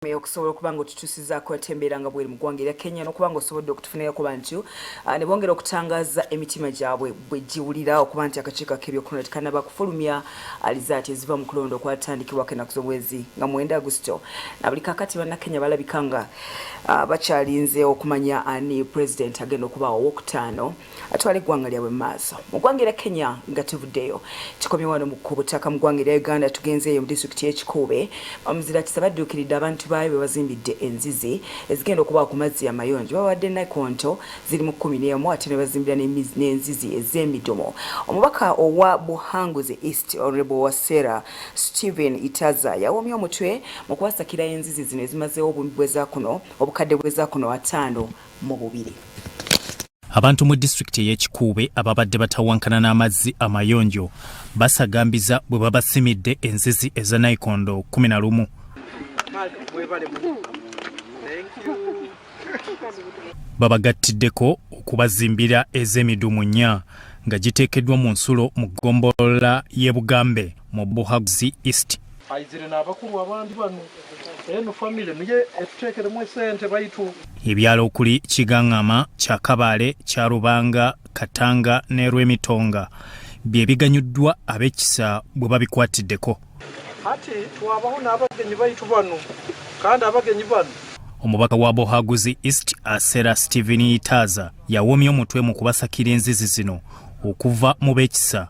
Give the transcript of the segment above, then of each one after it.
meya okusobola okuba nga otutusizaako ate embeera nga bweri mu ggwanga erya kenya n'okuba nga osobodde okutufunirako bantu ah, ne bongera okutangaza emitima gyabwe bwe giwulira okuba nti akakiiko ak'ebyokulonda tekanaba kufulumya alizaati eziva mu kulonda okwatandikibwako ennaku z'omwezi nga mwenda agusito na buli kakati bannakenya balabika nga ah, bakyalinze okumanya ani pulezidenti agenda okubaawo owokutaano atwala eggwanga lyabwe mu maaso mu ggwanga era kenya nga tevuddeyo kikomye wano ku butaka mu ggwanga erya uganda tugenzeeyo mu disitulikiti y'ekikuube omuzira kisa badduukiridde abantu baayo be bazimbidde enzizi ezigenda okubawa ku mazzi amayonjo bawadde nakonto ziri mu kkumi n'emu ate ne bazimbira n'enzizi ez'emidumu omubaka owa buhanguzi east honorable wasera stephen itaza yawomye omutwe mu kubasakira enzizi zino ezimazeewo obubweza kuno obukadde bweza kuno ataano mu bubiri. Abantu mu disitulikiti ey'ekikuube ababadde batawankana n'amazzi amayonjo basagambiza bwe babasimidde enzizi eza naikondo kumi na lumu babagattiddeko okubazimbira ez'emidumu nnya nga giteekeddwa mu nsulo mu ggombolola y'e bugambe mu buhaguzi east aizire n'abakulu abandi banu eno famile niye etutekeremu esente baitu ebyalo okuli kigaŋŋama kya kabaale kya rubanga katanga ne rwemitonga bye biganyuddwa ab'ekisa bwe babikwatiddeko ati twabaho n'abagenyi baitu bano kandi abagenyi bano omubaka wa bohaguzi east asera stephen yitaaza yawomya omutwe mu kubasakira enzizi zino okuva mu b'ekisa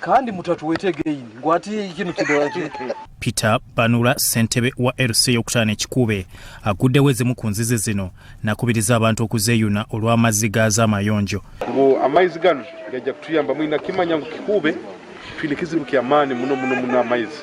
kandi mutatuwete again ngwati kino kidola Peter Banula sentebe wa LC yokutana ekikube agudde weze mukunzize zino nakubiriza abantu okuzeyuna olw'amazzi gaza amayonjo kubo amaizi gano gajja kutuyamba mwina kimanya ngu kikube twine kizibu kyamaani muno muno muno amaizi